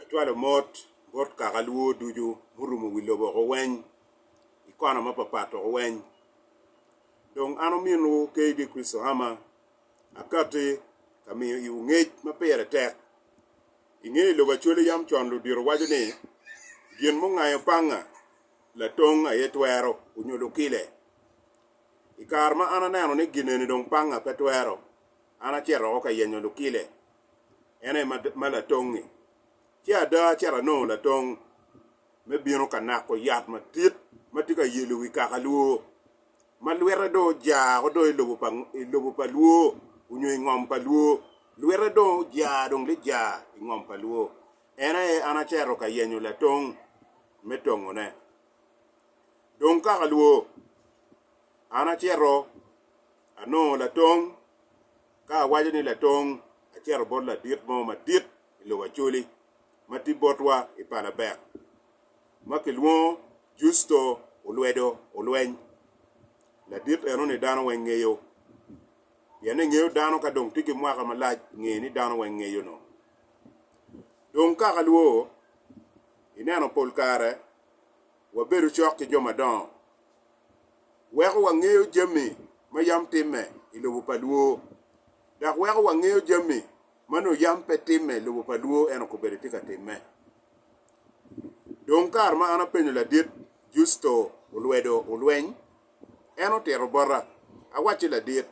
Acwalo mot bot kaka lwor ducu murumo wi lobo woko weny, i kona mapapat woko weny. Dong an ominwu KD Chrisohama akatti ka miyo iwu ngec ma pire tek. I nge lobo acwali yam con ludito waco ni, Gin mungayo panga latong aye twero, onyo lukile. I kare ma an aneno ni gineni dong panga pe twero, an acito woko ka yenyo lukile. en aye ma latongngi. Ci ada acito anongo latong me bino ka nako yat madit ma tye ka yelo wi kaka lwor, ma lwite dong ojar woko dong i lobo pa lwor onyo i ngom pa lwor, lwite dong ojar dong lijar i ngom pa lwor. En aye an acito ka yenyo latong me tongone. Dong kaka lwor, an acito anongo latong. Ka awaco ni latong, acito bot ladit mo madit i lobo Acoli ma tye botwa i palabek ma kilwongo Justo olwedo olweny. Ladit eno-ni dano weng ngeyo, pien engeyo dano ka dong tye ki mwaka malac nge ni dano weng ngeyo no. Dong kaka lwo, ineno pol kare wabedo cok ki jo madongo. weko wangeyo jami ma yam timme i lobo pa lwo, dok weko wangeyo jami ma nongo yam pe timme i lobo pa lwo en okobedi tye ka timme. Dong kare ma an apenyo Ladit Justo olwedo olweny, en otito bota, Awacci Ladit,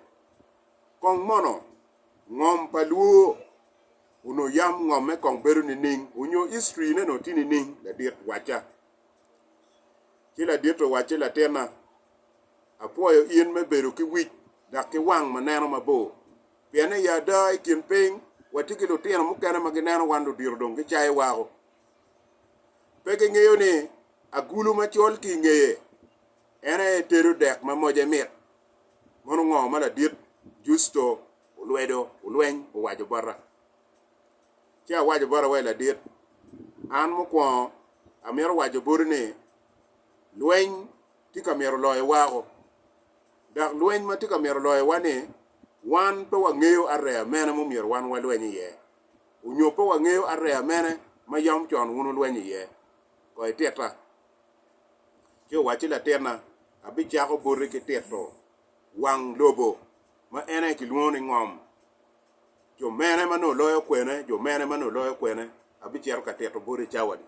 kong mono ngom pa lwo onongo yam ngomme kong bedo nining, onyo history ne nongo tye nining, Ladit, wacca. Ci ladite owacci, Latinna, apwoyo in me bedo ki wic dok ki wang ma neno mabor, pien i ada i kin piny watye ki lutino mukene ma gineno wan ludito dong gicayo wako. Pe gingeyo ni agulu macol ki i ngeye en aye tedo dek ma moce mit. Mono ngo ma ladit Justo olwedo olweny owaco bota? Ci awaco bota wa i ladit, An mukwongo amito waco boti ni, lweny tye ka myero loyo wako, dok lweny ma tye ka myero loyowa-ni, wan pe wangeyo areya mene ma omyero wan walweny iye, onyo pe wangeyo areya mene ma yam con wun wulwenyo iye. Koy titta. Ci owacci, Latinna, abicako boti ki tito wang lobo ma en aye kilwongo ni ngom. Jo mene ma nongo loyo kwene? Jo mene ma nongo loyo kwene? Abicito ka tito boti i cawa-ni.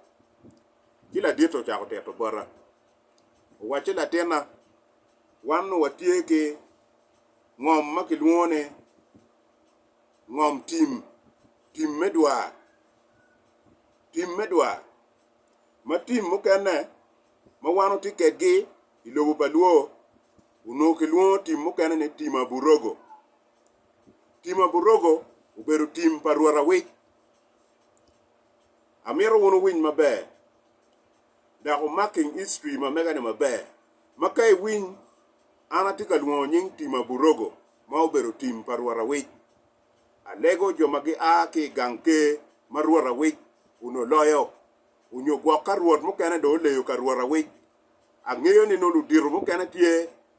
Ci ladite ocako tito bota, owacci, Latinna, wan nongo watye ki ngom ma kilwongo ni ngom tim, tim me dwa, tim me dwa, ma tim mukene ma wan watye kwedgi i lobo pa Luo onongo kilwongo tim mukene ni tim aburogo. Tim aburogo obedo tim pa Rwot awic. Amito wun wuwiny maber dok wumaking history ma mega-ni maber, ma ka iwiny an atye ka lwongo nying tim aburogo ma obedo tim pa Rwot awic. Alego jo ma gia ki i gang ker ma Rwot awic onongo loyo, onyo gwok ka Rwot mukene dong oleyo ka Rwot awic. Angeyo ni nongo ludito mukene tye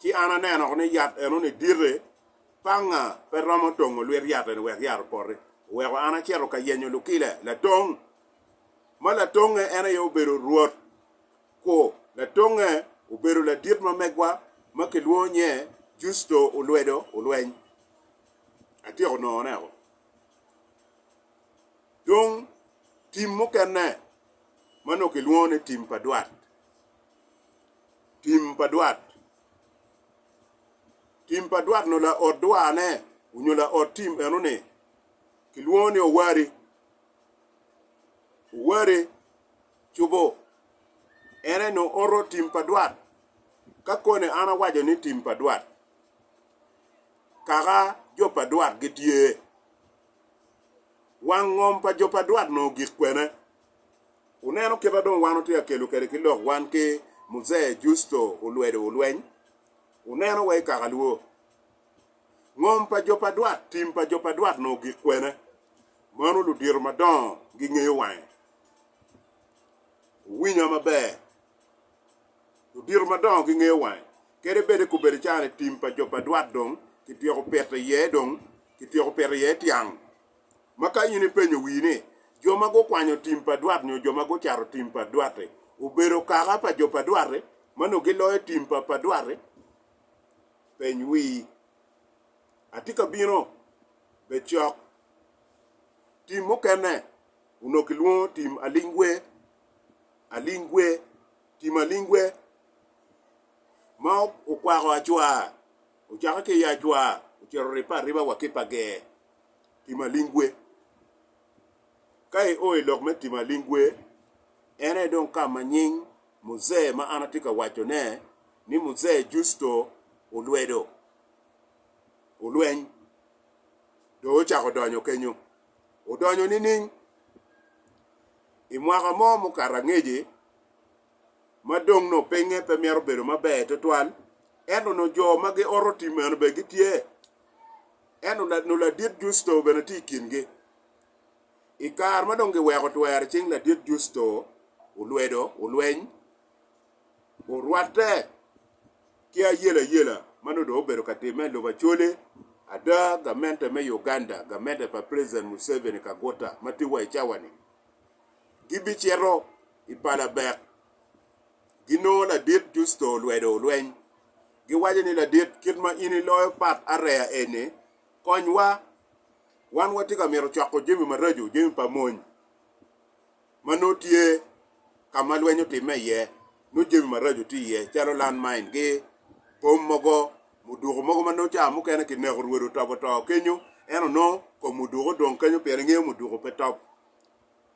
Ci an aneno woko ni yat eno-ni dite, panga pe romo tongo lwit yat eni wek yat opoti. Oweko an acito ka yenyo lukile latong, ma latongnge en aye obedo Rwot, ku latongnge obedo ladit ma megwa ma kilwongo nye Justo olwedo olweny. Atyeko nongo-neko. Dong, tim mukene ma nongo kilwongo ni tim pa dwat. Tim pa dwat. Tim pa dwat nyo laot dwane onyo laot tim eno ni kilwongo ni owari. Owari cubo en aye nyo oto tim pa dwat. Ka koni an awaco ni tim pa dwat, kaka jo pa dwat gitye, wang ngom pa jo pa dwat nyo gik kwene? Wuneno kit a dong wan wutye ka kelo kwede ki lok wan ki Muzee Justo olwedo olweny? Wuneno wa i kakalwo. Ngom pa jo pa dwat, tim pa jo pa dwat nongo gik kwene. Mano ludito madongo gingeyo wange. Wuwinya maber. Ludito madongo gingeyo wange. Kadi bed i kubedi caa-ni tim pa jo pa dwat dong kityeko pito iye dong kityeko pito iye tyang. Ma ka in ipenyo wii ni, 'Jo ma gukwanyo tim pa dwat nyo jo ma gucato tim pa dwat-ti obedo kaka pa jo pa dwat-ti ma nongo giloyo tim pa pa dwat-ti? Peny wii, 'Atye ka bino? Bed cok. Tim mukene onongo kilwongo tim alingwe, alingwe, tim alingwe ma okwako acwaa, ocake ki i acwaa ocito ripe ariba wa ki pa ger. tim aling gwe. Ka i o i lok me tim aling gwe, en aye dong ka ma nying Muzee ma an atye ka waco ne ni Muzee Justo olwedo olweny dong ocako donyo kenyo. Odonyo nining? I mwaka mo mukato angeci ma dong nongo pinge pe myero obedo maber tutwal, ento nongo jo ma gioto tim eno bene gitye. Ento nongo Ladit Justo bene tye i kingi. I kare ma dong giweko twer icing Ladit Justo, olwedo, olweny, orwatte ki ayelayela ma nongo dong obedo ka timme i lobo Acholi, ada, gamente me Uganda, gamente pa President Museveni Kaguta ma tye wa i cawa-ni, gibicito i palabek. Ginongo ladit Justo olwedo lweny. Giwaco ni, Ladit, kit ma in iloyo pat areya eni, konywa. Wan watye ka mito coko jami maraco, jami pa mony ma nongo tye ka ma lweny otimme iye, nongo jami maraco tye iye calo land mine gi bom mogo, muduku mogo ma nongo ca mukene kineko rwodi otobo to kenyo, ento nongo kom muduku odong kenyo pien ingeyo muduku pe top.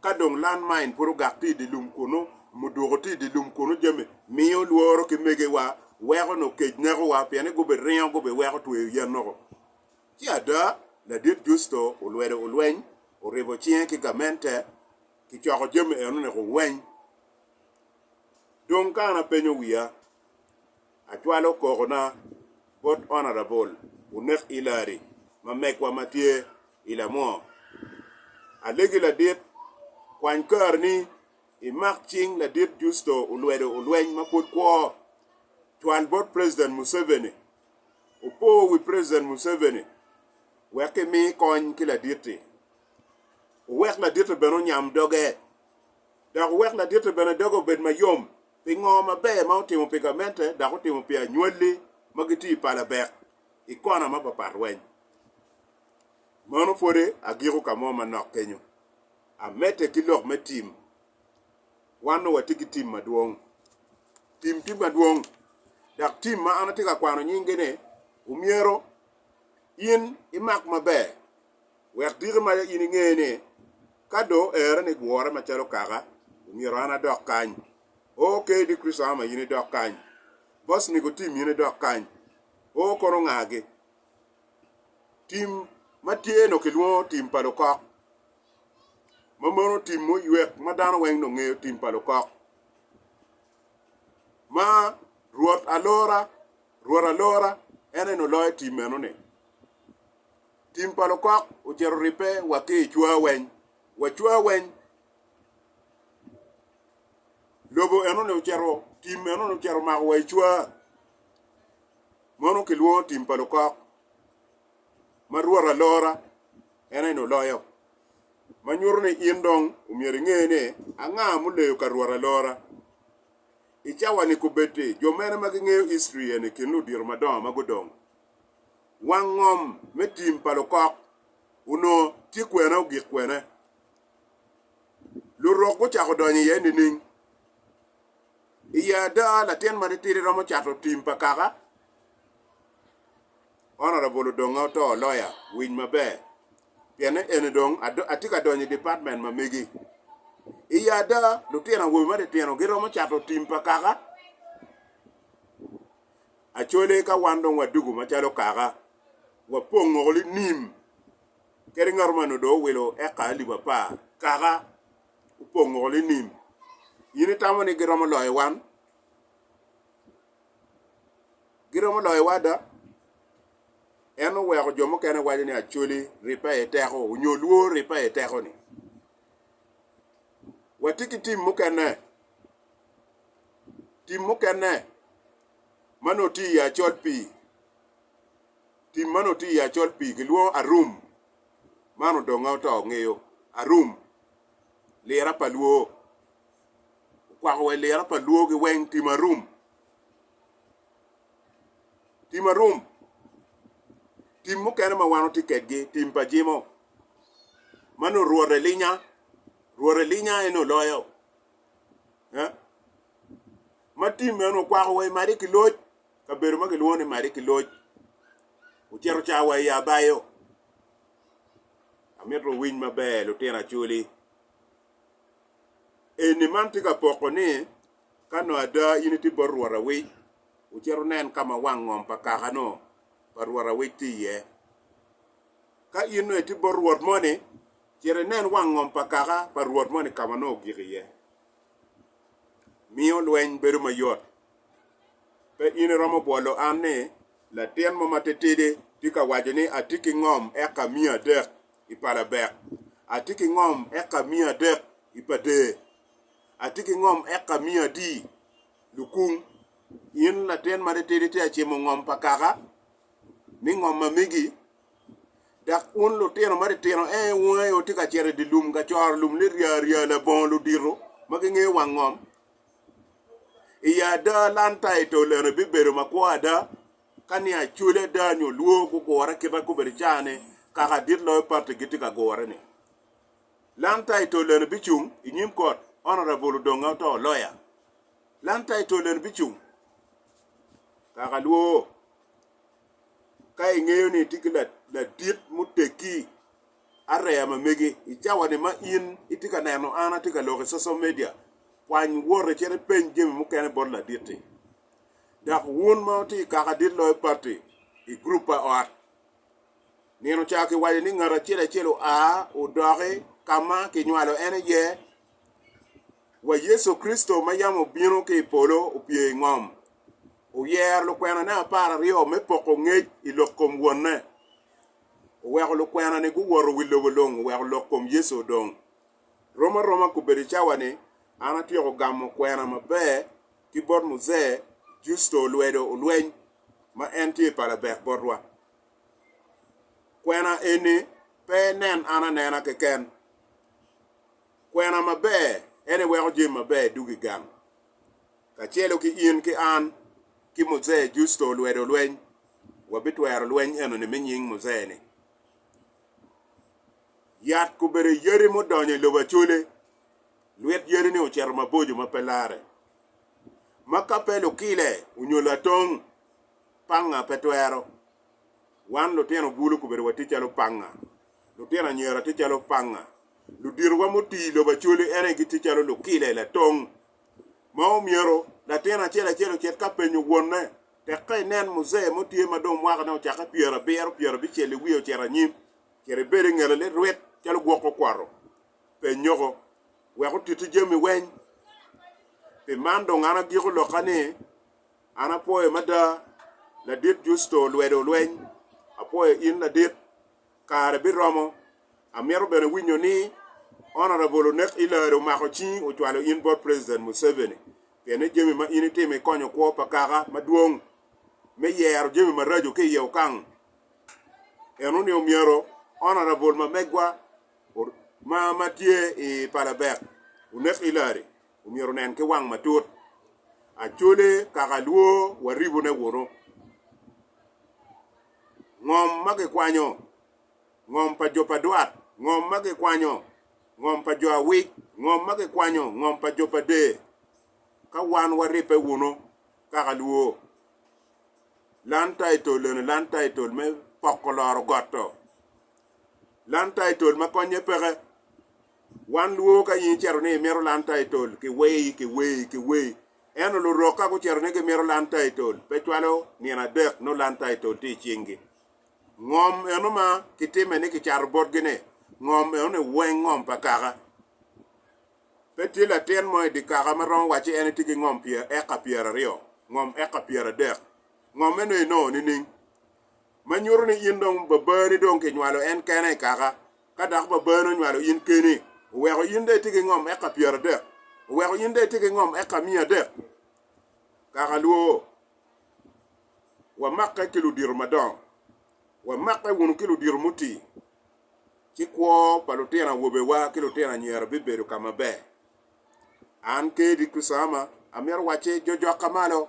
Ka dong land main pud ogak tye idye lum kunu, mudwoko tye idye lum kunu jami miyo lworo ki megewa weko nongo kec nekowa piene gubiringo gubiweko tweyo yen noko. Ci ada, Ladit Justo olwedo olweny, oribo cinge ki gamente, kicoko jami eno niko weny. Dong ka an apenyo wiya. Acwalo kokona bot Honourable Unek Ilari ma megwa ma tye i Lamwo. Alegi ladit, kwany kari ni imak cing ladit Justo Olwedo Olweny ma pud kwo. Cwal bot President Museveni opo wi President Museveni wek imi kony ki ladit-ti. Owek ladit-ti bene onyam doge dok owek ladit-ti bene doge obed mayom Pingo maber ma otimo pi gamente dok otimo pi anywalli ma gitye i palabek i kona mapapat weny? Meno pwode agiko ka mo manok kenyo. Amedde ki lok me tim. Wan nongo watye ki tim madwong. Tim tye madwong, dok tim ma an atye ka kwano nyingi-ni omyero in imak maber Wek diki ma in inge ni, ka dong oera ni gure macalo kaka, omyero an adok kany. O, KD. Christahoma in idok kany. Bosnigo Tim in idok kany. O, kono ngagi. Tim ma tye nongo kilwongo tim pa lukok. Ma mono tim muywek ma dano weng nongo ngeyo tim pa lukok. Ma Rwot alora, Rwot alora, en eno loyo tim meno ni. Tim pa lukok ocito ribbe wa ki i cwa weng. Wa cwa weng lobo enoni ocito, tim enoni ocito mako wa i cwa. Mono kilwongo tim pa lukok ma Rwot alora en aye ni oloyo. Ma nyuto ni in dong omyero inge ni anga muleyo ka Rwot alora. I cawa-ni kobeddi jo mene ma gingeyo history eni i kin ludito madongo ma gudong? Wang ngom me tim pa lukok onongo tye kwene ogik kwene. Lurok gucako donyo iye nining? I ye ada latin matitidi romo cato tim pa kaka? Honorable odonge oto lawyer winy maber pienne eni dong atye ka donyo i department ma megi. I ye ada lutino awobe matitino giromo cato tim pa kaka? Acwale ka wan dong wadugo macalo kaka, wapong woko linim kadi ngat man odong owilo eka alip apar kaka opong woko linim. In itamo ni giromo loyo wan? Giromo loyowa ada. En oweko jo mukene waco ni Acwali ribbe aye teko nyo Lwor ribbe aye teko-ni. Watye ki tim mukene Tim mukene ma nongo tye iye acol pii, tim ma nongo tye iye acol pii kilwongo arum, man odonge oto ngeyo arum, lira pa lwo, okwako wa i lira pa lwogi weng tim arum, tim arum, tim mukene ma wan watye kwedgi tim pa jimo ma nongo rwot elinya, rwot elinya en oloyo ma tim meno onongo kwako wa i madi ki loc kabedo ma kilwongo ni madi ki loc ocito ca wa i abayo amito wuwiny maber lutino acwali eni man tye ka poko ni ka nongo ada in itye bot rwot awic wucit wunen ka ma wang ngom pa kakano pa rwot awic tye iye ka in dong itye bot rwot moni Cit inen wang ngom pa kaka pa Rwot moni ka ma nongo ogik iye. Miyo lweny bedo mayot. Pe in iromo bwolo an ni latin mo matitidi tye ka waco ni, 'Atye ki ngom eka miya adek i pa Labek. Atye ki ngom eka miya adek i pa Dee. Atye ki ngom eka miya adi lukung. In latin matitidi tye ka cimo ngom pa kaka ni ngom ma megi Dok wun lutino matitino, ee, wun aye wutye ka cito i dye lum ka coro lum ni rya rya labongo ludito ma gingeyo wang ngom. I ada, lanta i tol eno bibedo makwo ada ka ni acwali ada nyo lwor gugure kite kobedi i caa-ni kaka adit loyo pati gitye ka gure-ni. Lanta i tol eno bicung i nyim kot, Honourable Odonga oto, Lawyer. Lanta i tol eno bicung kaka lwor. ka ingeyo ni itye ki ladit muteggi areya ma megi. I cawani ma in itye ka neno an atye ka lok i social media, kwany wot icit ipeny jami mukene bot ladit-ti. Dok wun ma wutye i kaka dit loyo batti i gurup pa ot, nino ca kiwaco ni ngat acel acel oa odoki ka ma kinywalo en iye wa Yecu Kricito ma yam obino ki i polo opye i ngom, oyero lukwenane apar aryo me poko ngec i lok kom Wonne. Oweko lukwena-ni guwoto wi lobo lung oweko lok kom Yecu odong. Rom aroma kobedo i cawa-ni, an atyeko gamo kwena maber ki bot Muze Justo Olwedo Olweny, ma en tye pa labek botwa. Kwena eni pe nen an anena keken. Kwena maber en aye weko jami maber duk i gang. Kacelo ki in ki an ki Muzee Justo olwedo lweny, wabitwero lweny eno-ni me nying Muzee-ni. Yat obedo yadi mudonyo i lobo acole, lwit yadi-ni ocito maboco ma pe larre, ma ka pe lukile onyo latong panga pe twero Wan lutino bulu okobbe watye calo panga, lutino anyira tye calo panga, luditowa muti i lobo Acholi ene gitye calo lukile, latong, ma omyero latin acel acel ocit ka penyo wonne tek ka inen muzee mo tye ma dong mwakane ocakke pyera abiro, pyera abicel i wiye ocito anyim, myero ibed i ngete lit rwit calo gwok okwoto. Penyoko, wek otiti jami weny. Pi man dong an agiko lokka ni. An apwoyo mada, Ladit Justo olwedo lweny. Apwoyo in Ladit. Kare biromo. Amito bene winyo ni Honorable Onek Hillary omako cingi ocwalo in bot President Museveni pien ni jami ma in itimo ikonyo kwo pa kaka madwong me yero jami maraco ki iye Okang. Eno ni omyero Honorable mamegwa ma ma tye i palabek Onek Hillary omyero onen ki wang matut acwale kaka lwor wa ribone wunu. Ngom ma gikwanyo, ngom pa jo pa dwat, ngom ma gikwanyo, ngom pa jo awic, ngom ma gikwanyo, ngom pa jo pa der, ka wan waribbe wunu kaka lwor. Land taitol eno, land taitol me poko loro got-to, land taitol ma konye peke, Wan lwor ka in icito ni imito lan taitol ki wei ki wei ki wei. Ento lurok ka gucito ni gimito lan taitol, pe cwalo nino adek nongo lan taitol tye i cinggi. Ngom eno ma kitime ni kicato botgi-ni, ngom eno-ni weng ngom pa kaka. Pe tye latin mo i dye kaka ma romo wacci en etye ki ngom pyer eka pyeraryo, ngom eka pyeradek. Ngom eno-ni nongo nining? ma nyuto ni in dong babani dong kinywalo en kene i kaka, ka dok babani onywalo in keni, oweko in dong itye ki ngom eka pyeradek, oweko in dong itye ki ngom eka miya adek, kaka lwo, wamakke ki ludito madongo, wamakke wunu ki ludito muti, ci kwo pa lutino awobewa ki lutino anyira bibedo ka maber. An Kedi Kusama amito wacce jojokka malo.